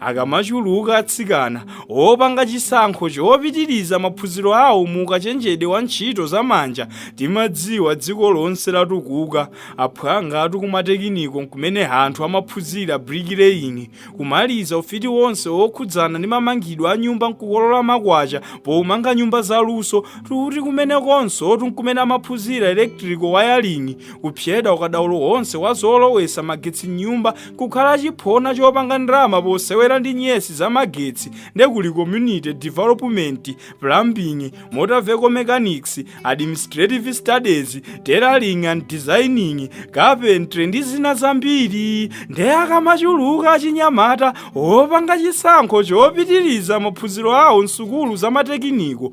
akamachuluka atsikana opanga chisankho chopitiriza maphunziro awo mu ukachenjede wa ntchito za manja timadziwa dziko lonse latukuka aphwangatu kumatekiniko nkumene anthu amaphunzira brikileini kumaliza ufiti wonse wokhudzana ndi mamangidwe a nyumba nkukolola makwacha pomanga nyumba za luso tuti kumenekonsotu nkumene amaphunzira electrical wiring kupsyeda ukadaulo wonse wa zolowesa magetsi m'nyumba kukhala chiphona chopanga ndalama posewera ndi nyesi za magetsi nde kuli community development plumbing motor vehicle mechanics administrative studies tailoring and designing carpentry ndi zina zambiri nde akamachuluka achinyamata opanga chisankho chopitiriza maphunziro awo msukulu za matekiniko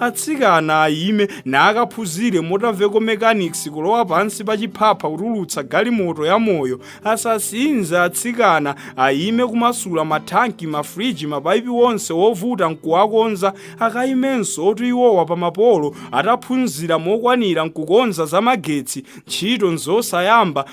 Atsikana ayime nakaphunzire motor vehicle mechanics kulowa pansi pa chiphapha kutulutsa galimoto ya moyo, asasinze atsikana ayime kumasula ma thanki, ma fridge, mapaipi onse wovuta nkuwakonza akayimensotu iwowa pa ma polo ataphunzira mokwanira nkukonza za magetsi, ntchito nzosayamba,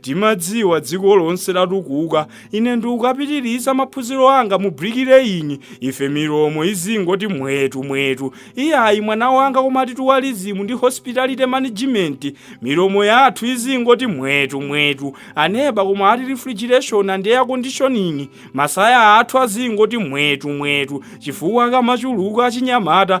timadziwa dziko lonse latukuka ine ndikukapitiriza maphunziro anga mu bricklaying ife milomo izingoti mwetu mwetu iyayi mwana wanga koma ati tourism ndi hospitality management milomo yathu izingoti mwetu mwetu aneba koma ati refrigeration and air conditioning masaya athu azingoti mwetu mwetu chifukwa akamachuluka achinyamata